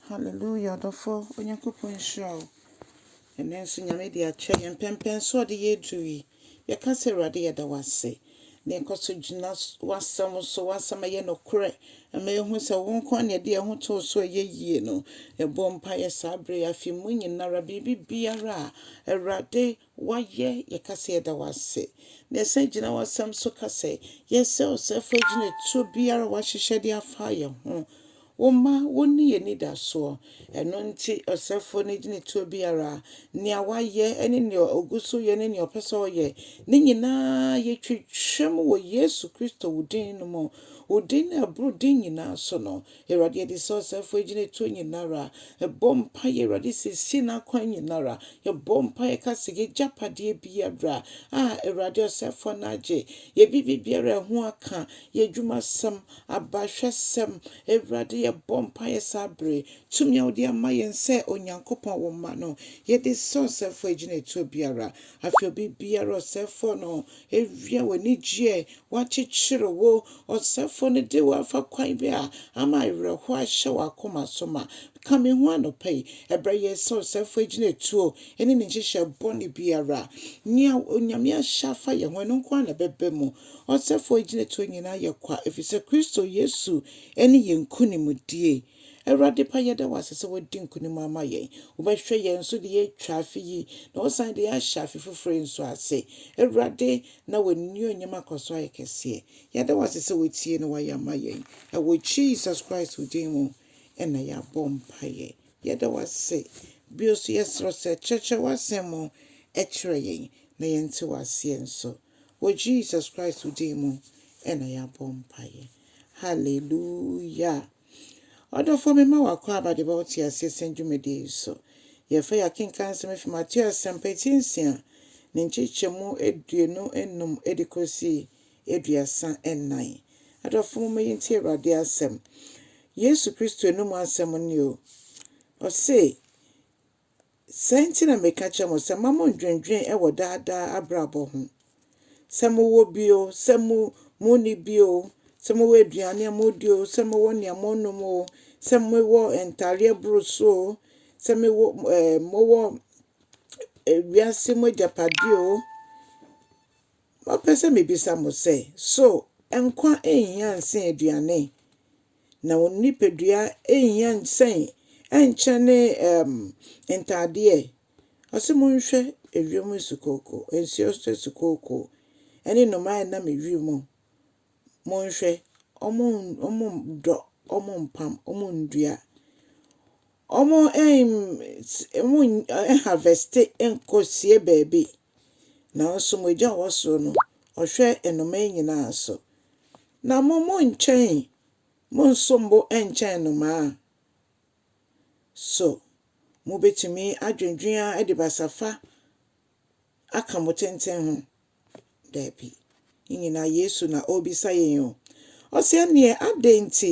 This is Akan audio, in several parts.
Hallelujah ɔdɔfoɔ Onyankopɔn nhyira wo. Ɛnɛ nso Nyame de akyɛ yɛn mpɛmpɛn so ɔde yɛ aduru yi. Yɛka sɛ Awurade yɛda wo ase. Na yɛkɔ so gyina s- w'asɛm so, w'asɛm a ɛyɛ nokorɛ. Ɛma yɛhu sɛ wo nko ara na yɛde yɛn ho too so a ɛyɛ yie no. Yɛbɔ mpaeɛ saa berɛ yi, afe mu nyinara, biribi biara a Awurade Woayɛ, yɛka sɛ yɛda wo ase. Na yɛsan gyina w'asɛm so ka sɛ, yɛsrɛ wo sɛ fa gyinatuo biara a woahyehyɛ de afa yɛn ho. Wo mma, wo ne yɛn anidasoɔ. Ɛno nti, ɔsɛfoɔ no gyinatuo biara, nea wayɛ ne nea ɔgu so yɛ ne nea ɔpɛ sɛ ɔyɛ, ne nyinaa yɛtwitwam wɔ Yesu Kristo wo din no mu, wo din no a ɛboro din nyinaa so no. Awurade yɛde sɛ ɔsɛefo agyinatuo nyinara bɔ mpaeɛ Awurade siesie n'akwan nyinara yɛbɔ mpaeɛ ka sɛ yɛgyapadeɛ biara a Awurade ɔsɛefoɔ no agye yɛbibi biara ɛho aka yɛdwumasɛm abahwɛsɛm Awurade yɛbɔ mpaeɛ saa bere tumi a wode ama yɛn sɛ Onyankopɔn wo mma no yɛde sɛ ɔsɛefoɔ agyinatuo biara afei obi biara ɔsɛefoɔ no Ewia w'anigyeɛ wɔakyekyere wo. Ɔsɛfoɔ no de wo afa kwan bi a ama awerɛhoɔ ahyɛ w'akoma so ma. Ka me ho anɔpa yi. Ɛbɛyɛ sɛ ɔsɛfoɔ agyina atuo ne ne nhyehyɛɛ bɔne biara. Nea Onyame ahyɛ afa yɛn ho, ɛno nko ara na ɛbɛba mu. Ɔsɛfoɔ agyinatuo nyinaa yɛ kwa, ɛfiri sɛ Kristo Yesu ne yɛn nkonimdie. Awurade pa, yɛda wo ase sɛ woadi nkonim ama yɛn. Wobɛhwɛ yɛn so de yɛn atwa afe yi, na wosan de yɛn ahyɛ afe foforo yi nso ase. Awurade, na w'anuonyam akɔ so ayɛ kɛseɛ. Yɛda wo ase sɛ woatie na woayɛ ama yɛn. Ɛwɔ Jesus Christ wo din mu na yɛabɔ mpaeɛ. Yɛda wo ase. Bio nso, yɛsrɛ wo sɛ kyerɛkyerɛ w'asɛm mu kyerɛ yɛn, na yɛnte wo aseɛ nso. Wɔ Jesus Christ wo din mu na yɛabɔ mpaeɛ. Hallelujah. Ɔdɔfoɔ, mema wo akwaaba de ba wo teaseɛsɛm dwumadie yi so. Yɛfa yi akenkan nsɛm efi Mateo Asɛmpa ti nsia ne nkyekyɛmu aduonu nnum de kɔsi aduasa nnan. Adɔfoɔ momma yɛntie Awurade asɛm. Yesu Kristo anum asɛm nie o. Ɔse, Saa nti na meka kyerɛ mo sɛ mma mo ndwendwen wɔ daa daa abrabɔ ho. Sɛ mo wɔ bi oo, sɛ mo mo nni bi oo, sɛ mo wɔ aduane a mo di oo, sɛ mo wɔ nea mo nom oo, sɛ mo wɔ ntaareɛ boro so oo, sɛ me wɔ ɛɛ mo wɔ wiase mo agyapadeɛ oo, Mapɛ sɛ mebisa mo sɛ, So nkwa nhia nsen aduane? Na wo nipadua nhia nsen nkyɛne um, ntadeɛ? Ɔse monhwɛ ewiem nsukooko, nsuo nsukooko, ɛne nnomaa a ɛnam ewiem monhwɛ, wɔnndɔ, wɔnmpam, wɔnndua, wɔnnharvɛste nnkɔsie baabi, naaso mo Egya a ɔwɔ sor no, Ɔhwɛ nnomaa nyina so. Na mo monnkyɛn, monnsom bo nnkyɛn nnomaa. So mubetumi adwendwen ara dze basafa aka mo tsentsen ho? Dabi. Ne nyinaa Yesu na ɔrebisa yɛn o. Ɔse ɛneɛ adɛn nti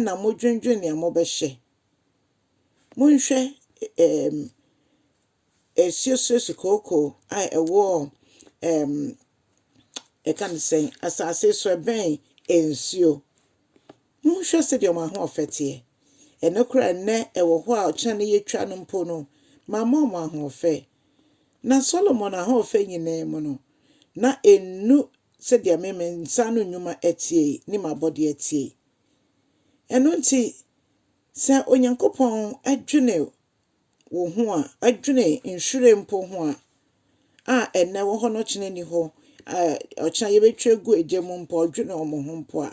na modwendwen nea mobɛhyɛ? Monhwɛ ɛɛm ɛsuosuosu kookoo a ɛwɔ ɛɛm ɛka ne sɛn asase so ɛbɛn nsuo. Monhwɛ sɛdeɛ wɔn ahoɔfɛ teɛ! Ɛno koraa a, nnɛ ɛwɔ hɔ a ɔkyena no yɛtwa no mpo no, mamma wɔn ahoɔfɛ. Na Solomon ahoɔfɛ nyinaa mu no, na ɛnnu sɛdeɛ me, me nsa ano nnwuma teɛ yi ne m'abɔdeɛ teɛ yi. Ɛno nti, sɛ Onyankopɔn dwene wo ho a, ɔdwene nhwiren mpo ho a, a ɛnnɛ ɛwɔ hɔ na ɔkyena nni hɔ, a ɔkyena yɛbɛtwa agu egya mu mpo a, ɔdwene wɔn ho mpo a,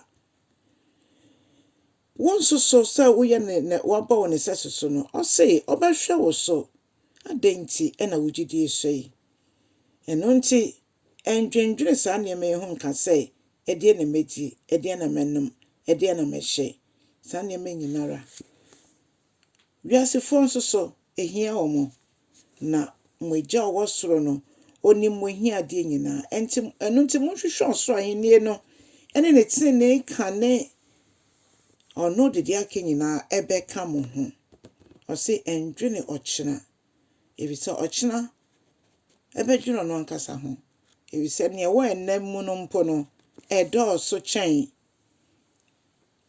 Wonsusuw sɛ woyɛ ne nea wabɔ wo ne sɛso so no. Ose ɔbɛhwɛ wo so. Adɛn nti na wo gyidi sua yi? Ɛno nti, nnwendwene saa nneɛma yi ho nka sɛ, Ɛdeɛn na mɛdi? Ɛdeɛn na mɛnom? Ɛdeɛn na mɛhyɛ? Saa nneɛma nyinara. Wiasefoɔ nso so, ɛhia wɔn, na mo Agya a ɔwɔ soro no, ɔnim mo ahiadeɛ nyinaa. Ɛnti, ɛno nti monhwehwɛ ɔsoro ahennie no ne ne tenenee kane, ɔno de deɛ aka nyinaa ɛbɛka mo ho. Ɔse ɛndwene ɔkyena, ɛfiri sɛ ɔkyena ɛbɛdwene ɔno ankasa ho, ɛfiri sɛ nea ɛwɔ ɛnna mu no mpo no, ɛdɔɔso kyɛn,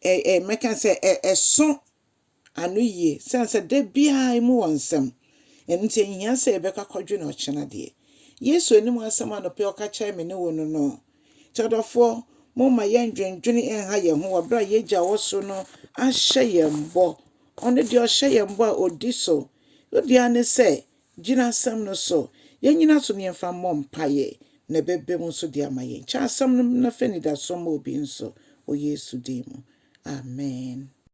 ɛ, ɛ, mɛka sɛ ɛ, ɛso ano yie sɛne sɛ da biara emu wɔ nsɛm. Ɛno nti ɛnhia sɛ yɛbɛkɔ akɔdwene ɔkyena deɛ. Yesu anim asɛm anɔpa yi ɔka kyerɛɛ me ne wo no no. Nti adɔfoɔ, momma yɛndwendwene nha yɛn ho wɔ berɛ a yɛn Agya a ɔwɔ soro no ahyɛ yɛn bɔ. Ɔno deɛ ɔhyɛ yɛn bɔ a ɔdi so. Wo deɛ ara ne sɛ gyina asɛm no so. Yɛnyina so na yɛmfa mmɔ mpaeɛ na ɛbɛba mu nso de ama yɛn. Kyɛ asɛm no na fa anidasoɔ ma obi nso wɔ Yesu din mu. Amen.